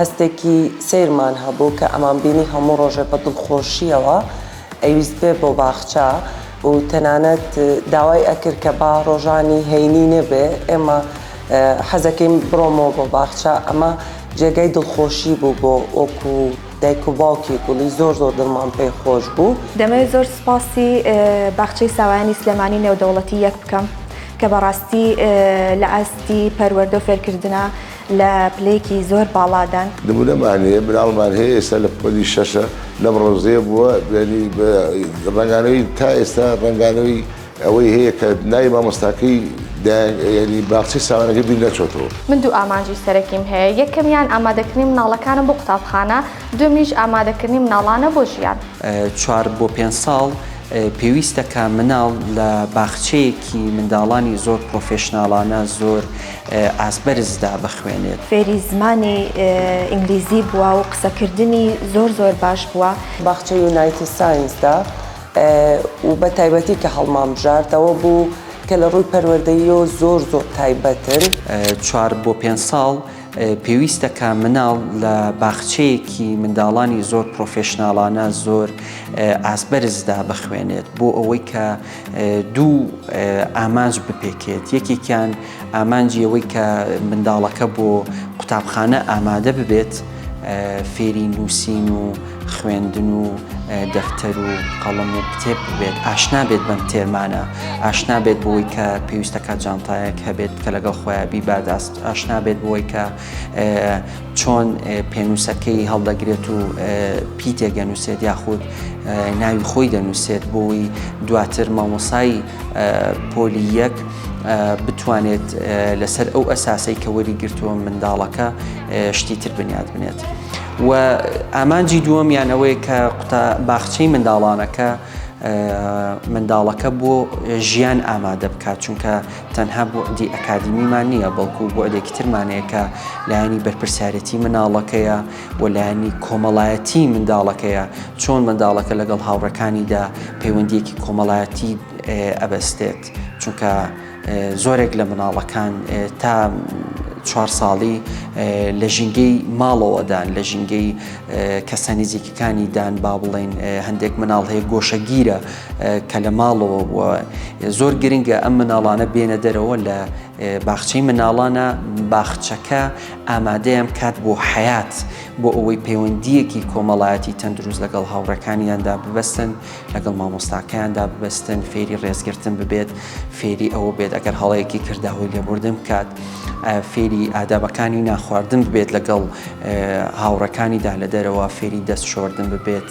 هەستێکی سەیرمان هەبوو کە ئەمانبینی هەموو ڕۆژێ بە دڵخۆشییەوە ئەیویست بێ بۆ باخچە و تەنانەت داوای ئەکرد کە با ڕۆژانی هەینی نەبێ ئێمە حەزەکەین بڕۆمەوە بۆ باخچە ئەمە جێگای دڵخۆشی بوو بۆ وەکو دایک و باوکی گوڵی زۆر زۆر دڵمان پێ خۆش بوو. دەمەوێت زۆر سوپاسی باخچەی ساوایانی سلێمانی نێودەوڵەتی یەک بکەم کە بەڕاستی لە ئاستی پەروەردە و فێرکردنا لە پلەیەکی زۆر باڵادان. نمونەمان هەیە مناڵمان هەیە ئێستا لە پۆلی شەشە لەم ڕەوزەیە بووە دوێنی ڕەنگانەوەی تا ئێستا ڕەنگانەوەی ئەوەی هەیە کە ناوی مامۆستاکەی یعنی باخچەی ساوانەکەی بیر نەچۆتەوە. من دوو ئامانجی سەرەکیم هەیە یەکەمیان ئامادەکردنی مناڵەکانە بۆ قوتابخانە دووەمیش ئامادەکردنی مناڵانە بۆ ژیان. چوار بۆ پێنج ساڵ پێویستە کە مناڵ لە باخچەیەکی منداڵانی زۆر پڕۆفێشناڵانە زۆر. ئاست بەرزدا بخوێنێت. فێری زمانی ئینگلیزی بووە و قسەکردنی زۆر زۆر باش بووە. باخچەی یونایتی ساینسدا و بە تایبەتی کە هەڵمانبژاردەوە بوو کە لە ڕووی پەروەردەییەوە زۆر زۆر تایبەتن. چوار بۆ پێنج ساڵ پێویستە کە مناڵ لە باخچەیەکی منداڵانی زۆر پڕۆفێشناڵانە زۆر ئاست بەرزدا بخوێنێت بۆ ئەوەی کە. دوو ئامانج بپێکێت یەکێکیان ئامانجی ئەوەی کە منداڵەکە بۆ قوتابخانە ئامادە ببێت فێری نووسین و خوێندن و دەفتەر و قەڵم و کتێب بێت ئاشنا بێت بەم تێرمانە ئاشنا بێت بۆی کە پێویستەکە جانتایەک هەبێت کە لەگەڵ خۆیان بیباداست ئاشنا بێت بۆی کە چۆن پێنووسەکەی هەڵدەگرێت و پی تێگەنووسێت یاخود ناوی خۆی دەنووسێت بۆی دواتر مامۆسایی پۆلی یەک بتوانێت لەسەر ئەو ئەساسەی کە وەری گرتووە منداڵەکە شتی تر بنیاد بنێت. و ئامانجی دووەم یانەوەی کە قوتا باخچەی منداڵانەکە منداڵەکە بۆ ژیان ئامادە بکات چونکە تەنها بوعدی ئەکادیمیمان نییە، بەڵکو بوعدێکی ترمان هەیە کە لایەنی بەرپرسیارێتی منداڵەکەیە و لایەنی کۆمەڵایەتی منداڵەکەیە، چۆن منداڵەکە لەگەڵ هاوڕێکانیدا پەیوەندییەکی کۆمەڵایەتی ئەبەستێت، چونکە زۆرێک لە منداڵەکان تا چوار ساڵی لە ژینگەی ماڵەوەدان، لە ژینگەی کەسە نزیکەکانیدان، با بڵێین هەندێک منداڵ هەیە گۆشەگیرە، کە لە ماڵەوە بووە زۆر گرنگە ئەم مناڵانە بێنە دەرەوە لە باخچەی مناڵانە باخچەکە ئامادەیان کات بۆ حیات بۆ ئەوەی پەیوەندیەکی کۆمەڵایەتی تەندروست لەگەڵ هاوڕەکانیاندا ببەستن لەگەڵ مامۆستاکەیاندا ببەستن فێری ڕێزگرتن ببێت فێری ئەوە بێت ئەگەر هەڵەیەکی کردداهۆی لێبوردن بکات فێری ئادابەکانی ناخواردن ببێت لەگەڵ هاوڕەکانیدا لە دەرەوە فێری دەست شۆردن ببێت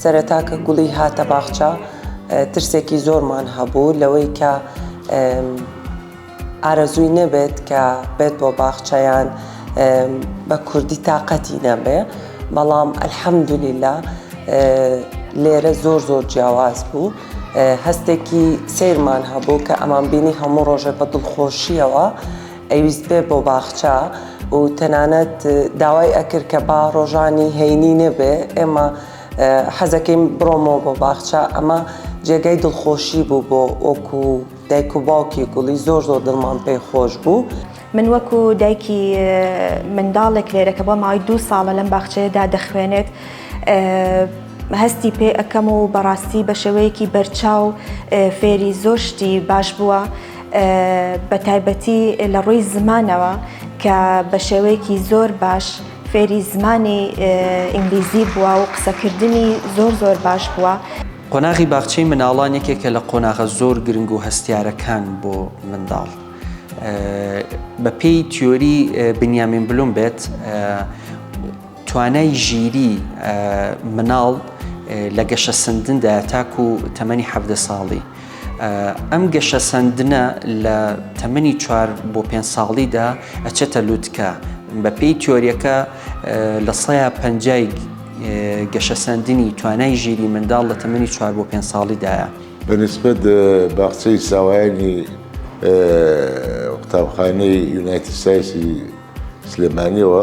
سەرەتا کە گوڵی هاتە باخچە ترسێکی زۆرمان هەبوو لەوەی کە ئارەزووی نەبێت کە بێت بۆ باخچەیان بە کوردی تااقەتی نەبێ بەڵام ئەلحەمدولیلا لێرە زۆر زۆر جیاواز بوو هەستێکی سیرمان هەبوو کە ئەمان بینی هەموو ڕۆژێ بە دڵخۆشیەوە ئەیویست بێ بۆ باخچە و تەنانەت داوای ئەکرد کە با ڕۆژانی هەینی نەبێ ئێمە حەزەکەیم بڕۆمەوە بۆ باخچە ئەمە جێگای دڵخۆشی بوو بۆ ئۆکو دایک و باوکی گوڵی زۆر زۆر دڵمان پێ خۆش بوو. من وەکو دایکی منداڵێک لێرە کە بۆ ماوەی دوو ساڵە لەم باخچەیەدا دەخوێنێت هەستی پێ ئەەکەم و بەڕاستی بە شێوەیەکی بەرچاو فێری زۆر شتی باش بووە. بە تایبەتی لە ڕووی زمانەوە کە بە شێوەیەکی زۆر باش فێری زمانی ئینگلیزی بووە و قسەکردنی زۆر زۆر باش بووە. قۆناغی باخچەی مناڵان یەکێکە لە قۆناغە زۆر گرنگ و هەستیارەکان بۆ منداڵ. بە پێی تیۆری بنیامین بلوم بێت توانای ژیری مناڵ لە گەشە سندندا تاکو تەمەنی حەڤدە ساڵی. ئەم گەشەسەندنە لە تەمەنی چوار بۆ پێنج ساڵیدا ئەچێتە لوتکە بەپێی تیۆریەکە لە سەیا پەنجای گەشەسەندنی توانای ژیری منداڵ لە تەمەنی چوار بۆ پێنج ساڵیدایە بەنسبەت باخچەی ساوایانی قوتابخانەی یونایتی سایسی سلێمانیەوە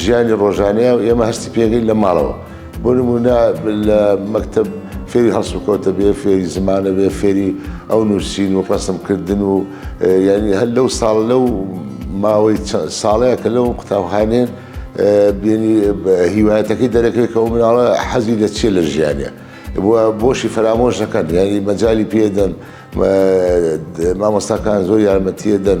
ژیانی ڕۆژانەیە و ئێمە هەستی پێکەین لە ماڵەوە. بۆ نموونە لە مەکتەب فێری هەڵسوکەوتە بێ، فێری زمانە بێ، فێری ئەو نووسین و ڕەسمکردن و یانی هەر لەو ساڵ لەو ماوەی ساڵەیە کە لەو قوتابخانەیە بینی هیوایەتەکەی دەرەکەوێت کە ئەو مناڵە حەزی لە چیە لە ژیانە. بۆشی فەرامۆش دەکەن یانی مەجای پێدەن مامۆستاکان زۆر یارمەتیە دەن.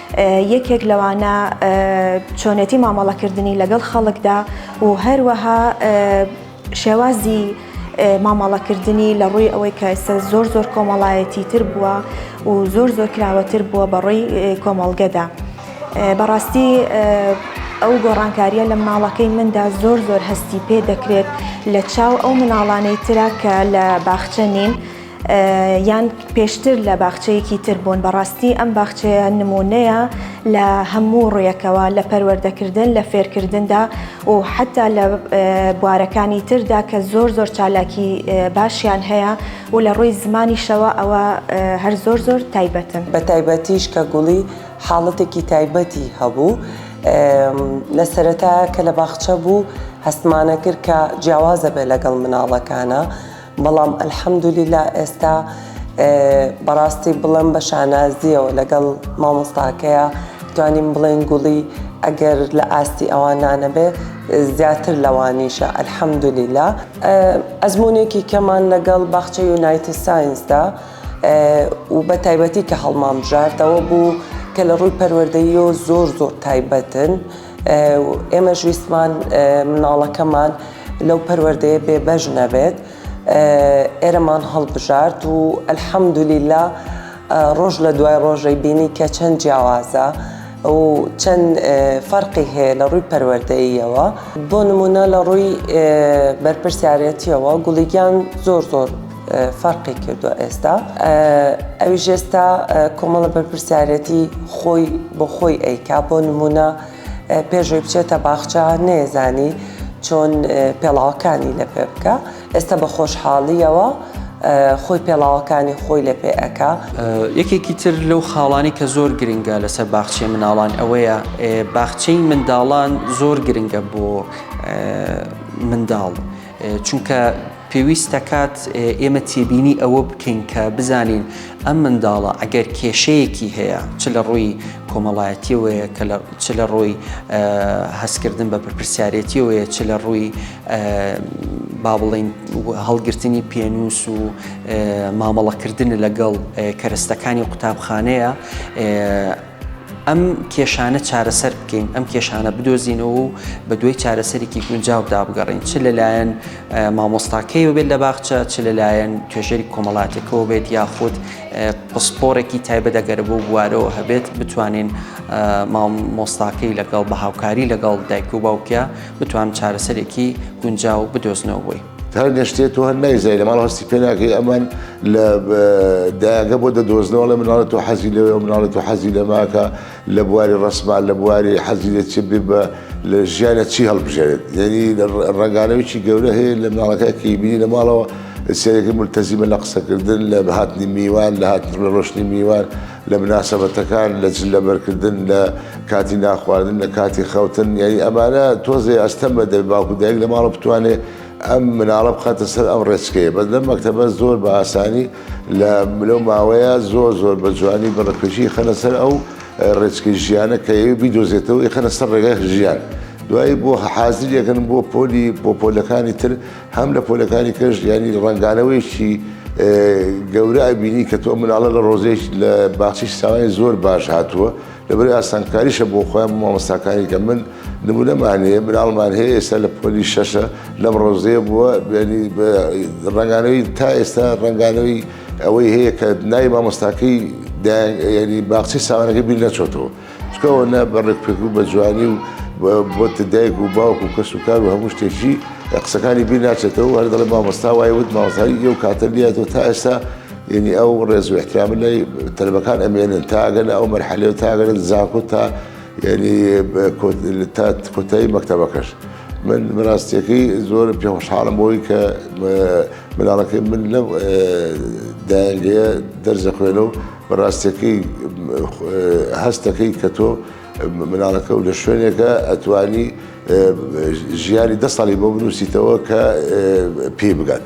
یەکێک لەوانە چۆنێتی مامەڵەکردنی لەگەڵ خەڵکدا و هەروەها شێوازی مامەڵەکردنی لە ڕووی ئەوەی کە ئێستا زۆر زۆر کۆمەڵایەتی تر بووە و زۆر زۆر کراوەتر بووە بەڕووی کۆمەڵگەدا بەڕاستی ئەو گۆڕانکاریە لە مناڵەکەی مندا زۆر زۆر هەستی پێ دەکرێت لە چاو ئەو مناڵانەی ترا کە لە باخچە نین یان پێشتر لە باخچەیەکی تر بوون بەڕاستی ئەم باخچەیە نمونەیە لە هەموو ڕویەکەوە لە پەروەردەکردن لە فێرکردندا و حتا لە بوارەکانی تردا کە زۆر زۆر چالاکی باشیان هەیە و لە ڕووی زمانیشەوە ئەوە هەر زۆر زۆر تایبەتن بە تایبەتیش کە گوڵی حاڵەتێکی تایبەتی هەبوو لە سەرەتا کە لە باخچە بوو هەستمانە کرد کە جیاوازە بێ لەگەڵ مناڵەکانە. بەڵام الحمدللە ئێستا بەڕاستی بڵم بە شانازیەوە لەگەڵ مامۆستاکەیە توانیم بڵێن گوڵی ئەگەر لە ئاستی ئەوان نانەبێ زیاتر لەوانیشە الحمدللە ئەزمونێکی کەمان لەگەڵ باخچە یونایتی ساینسدا و بە تایبەتی کە هەڵمامژاردەوە بوو کە لە ڕووی پەروەردەیی و زۆر زۆر تایبەتن ئێمەش ویستمان مناڵەکەمان لەو پەروەردەیە بێبەش نەبێت ئێرەمان هەڵبژارد و ئەلحەمدولیلا ڕۆژ لە دوای ڕۆژەی بینی کە چەند جیاوازە و چەند فەرقی هەیە لە ڕووی پەروەردەیەوە بۆ نمونە لە ڕووی بەرپرسیارەتیەوە گوڵیگیان زۆر زۆر فەرقی کردوە ئێستا ئەوی ژێستا کۆمەڵە بەرپرسیارەتی خۆی بۆ خۆی ئەیکا بۆ نمونە پێشۆی بچێتە باخچە نێزانی چۆن پێڵاوەکانی لە پێ بکە ئێستا بە خۆشحاڵیەوە خۆی پێڵاوەکانی خۆی لە پێ ئەک یەکێکی تر لەو خاڵانی کە زۆر گرنگە لەسەر باخچەی مناڵان ئەوەیە باخچەی منداڵان زۆر گرنگە بۆ منداڵ. چونکە پێویست دەکات ئێمە تێبینی ئەوە بکەین کە بزانین ئەم منداڵە ئەگەر کێشەیەکی هەیە چ لە ڕووی کۆمەڵایەتیەوەیە کە چ لە ڕووی هەستکردن بە پرپرسیارەتیەوەیە چ لە ڕووی با بڵین هەڵگرتنی پێنووس و مامەڵەکردن لەگەڵ کەرەستەکانی قوتابخانەیە ئەم کێشانە چارەسەر بکەین ئەم کێشانە بدۆزینەوە و بە دوای چارەسەرێکی گونجاودا بگەڕین چ لەلایەن مامۆستاکەیەوە بێت لە باخچە چ لەلایەن توێژەری کۆمەڵاتەکەەوە بێت یاخود پسپۆرێکی تایبە دەگەرە بۆ بوارەوە هەبێت بتوانین مامۆستاکەی لەگەڵ بە هاوکاری لەگەڵ دایک و باوکە بتوان چارەسەرێکی گونجاو بدۆزنەوەی. هەندێک شتێ تۆ هەر نایزای لە ماڵ هەستی پێ ناکەی ئەمان لە دایەکە بۆ دەدۆزنەوە لە مناڵە تۆ حەزی لەوێ مناڵە تۆ حەزی لە ماکە لە بواری ڕسمان لە بواری حەزی لە چ بێ بە لە ژیانە چی هەڵبژێت یعنی ڕگانەوەی گەورە هەیە لە مناڵەکەکی بینی لە ماڵەوە سێرەکە ملتەزیمە لە قسەکردن لە بەهاتنی میوان لە هاتن ڕۆشتنی میوان لە مناسەبەتەکان، لە چ لەبەرکردن، لە کاتی نانخواردن، لە کاتی خەوتن، یانی ئەمانە تۆزێ ئەستەمە دەبێ باوک و دایک لە ماڵە بتوانێ ئەم مناڵە بخاتە سەر ئەم ڕێچکەیە، بەس لەم مەکتەبە زۆر بە ئاسانی لە لەو ماوەیە زۆر زۆر بە جوانی بە ڕکێچی ئیخەنە سەر ئەو ڕێچکەی ژیانە کە ئەوێ بیدۆزێتەوە ئیخەنە سەر ڕێگای ژیان دوایی بۆ حازریەکەن بۆ پۆلی بۆ پۆلەکانی تر. هەم لە پۆلەکانی پێش یانی ڕەنگانەوەیشی گەورە ئەبینی کە تۆ مناڵە لە ڕۆزێک لە باخچی ساوای زۆر باش هاتووە لەبەر ئاسانکاریشە بۆ خۆیان مامۆستاکانی کە من نمونەمان هەیە مناڵمان هەیە ئێستا لە پۆلی شەشە لەم ڕۆزەیە بووە ڕنگانەوەی تا ئێستا ڕنگانەوەی ئەوەی هەیە کە نای مامۆستاکەی باخچی ساوانەکە بیر نەچۆتەوە. چکەوە نە بە ڕێکپێک و بە جوانی و بۆتە دایک و باوک و کەس و کار و هەموو شتێکی قسەکانی بیر ناچێتەوە هەر دەڵێ مامۆستا وای وت ماوەزاری ئێو کاتە لاتەوە تا ئێستا یعنی ئەو ڕێز و احترام لای تەلبەکان ئەمێنن تاگەن ئەو مەرحەلێ و تاگەن زانکۆ تا یعنی تا کۆتایی مەکتتەبەکەش. من بەراستیەکەی زۆر پێ خۆشحاڵم بۆی کە مناڵەکەی من لەم دایگەیە دەرزە خوێنە و بەڕاستەکەی هەست دەکەیت کە تۆ مناڵەکە و لە شوێنێکە ئەتوانی ژیانی دە ساڵی بۆ بنووسیتەوە کە پێی بگات.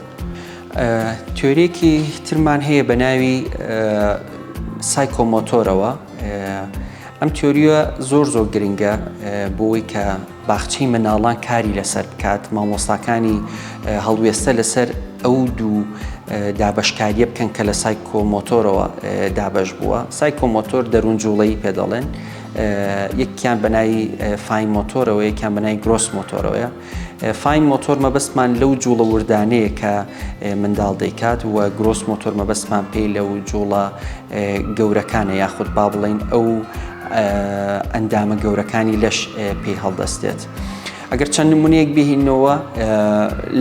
تۆرێکی ترمان هەیە بە ناوی سایکۆمۆتۆرەوە ئەم تۆریە زۆر زۆر گرنگە بۆی کە باخچەی منداڵان کاری لەسەر بکات، مامۆستاکانی هەڵوێستە لەسەر ئەو دوو دابەشکارییە بکەن کە لە سایکۆمۆتۆرەوە دابەش بووە، سایکۆمۆتۆر دەروون جوڵەی پێ دەڵێن، یەکیان بە ناوی فاین مۆتۆرەوە یەکیان بە ناوی گرۆس مۆتۆرەوەیە. فاین مۆتۆر مەبەستمان لەو جوڵە وردانەیە کە منداڵ دەیکات و گرۆس مۆتۆر مەبەستمان پێی لەو جوڵە گەورەکانە یاخود با بڵێین ئەو ئەندامە گەورەکانی لەش پێی هەڵدەستێت. ئەگەر چەند نمونەیەک بهینەوە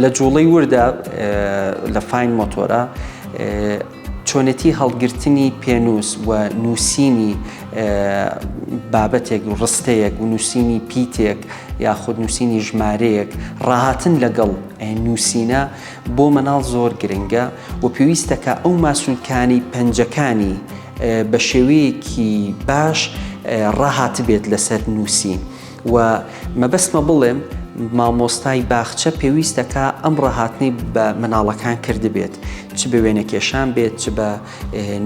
لە جوڵەی وردە لە فین مۆتۆرە چۆنێتی هەڵگرتنی پێنووس و نووسینی بابەتێک و ڕستەیەک و نووسینی پیتێک یاخود نووسینی ژمارەیەک ڕاهاتن لەگەڵ نووسینە بۆ مەناڵ زۆر گرنگە و پێویستەکە ئەو ماسولکانی پەنجەکانی بە شێوەیەکی باش ڕاهاتبێت لەسەر نووسین و مەبەستمە بڵێم مامۆستای باخچە پێویستەکە ئەم ڕاهاتنی بە مناڵەکان کردبێت چ بە وێنەکێشان بێت چ بە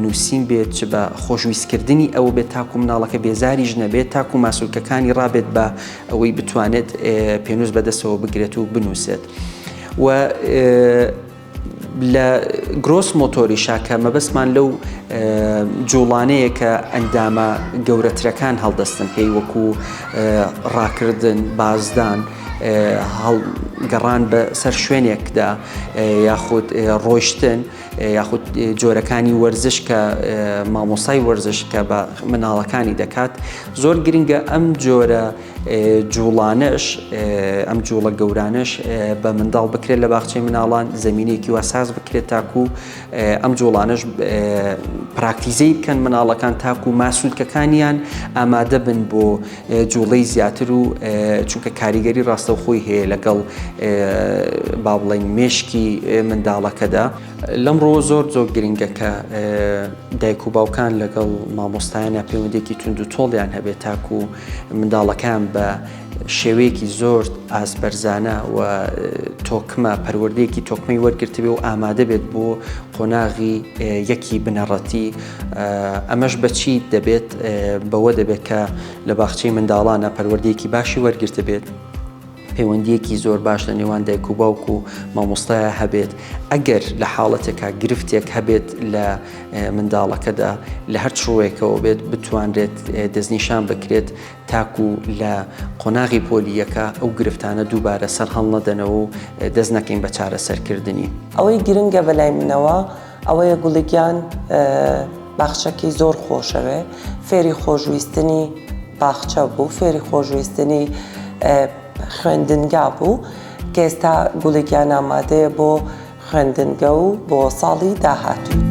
نووسین بێت چ بە خۆشویستکردنی ئەو بێت تاکو مناڵەکە بێزاریش نەبێت تاکو ماسولکەکانی ڕابێت بە ئەوەی بتوانێت پێنووس بەدەستەوە بگرێت و بنووسێت و لە گرۆس مۆتۆریشا کە مەبەستمان لەو جوڵانەیە کە ئەندامە گەورەترەکان هەڵدەستن پێی وەکو ڕاکردن بازدان گەڕان بە سەر شوێنێکدا یاخود ڕۆیشتن یاخود جۆرەکانی وەرزش کە مامۆسای وەرزش کە بە مناڵەکانی دەکات زۆر گرنگە ئەم جۆرە جوڵانەش ئەم جوڵە گەورانەش بە منداڵ بکرێت لە باخچەی مناڵان زمینێکی وا ساز بکرێت تاکو ئەم جوڵانەش پراکتیزەی بکەن مناڵەکان تاکو ماسوولکەکانیان ئامادە بن بۆ جوڵەی زیاتر و چونکە کاریگەری ڕاستەوخۆی هەیە لەگەڵ با بڵین مشکی منداڵەکەدا. لەم ڕووە زۆر زۆر گرنگە کە دایک و باوکان لەگەڵ مامۆستایانە پەیوەندێکی تونند و تۆڵیان هەبێت تاکو و منداڵەکان بە شێوەیەکی زۆر ئاسبەرزانە و تۆکمە پەروەردەیەکی تۆکمەی وەرگرتبێ و ئامادە بێت بۆ قۆناغی یەکی بنەڕەتی ئەمەش بەچی دەبێت بەوە دەبێت کە لە باخچەی منداڵانە پەروەردەیەکی باشی وەرگرتبێت. پەیوەندییەکی زۆر باش لە نێوان دایک و باوک و مامۆستایە هەبێت ئەگەر لە حاڵەتێکا گرفتێک هەبێت لە منداڵەکەدا لە هەر چڕوەیەکەوە بێت بتوانرێت دەستنیشان بکرێت تاکو لە قۆناغی پۆلیەکە ئەو گرفتانە دووبارە سەر هەڵنەدەنەوە و دەست نەکەین بە چارەسەرکردنی ئەوەی گرنگە بەلای منەوە ئەوەیە گوڵی گیان باخچەکی زۆر خۆشەوێ فێری خۆشویستنی باخچە بوو فێری خۆشویستنی خوێندنگا بوو کە ئێستا گوڵی گیان ئامادەیە بۆ خوێندنگە و بۆ ساڵی داهاتوو.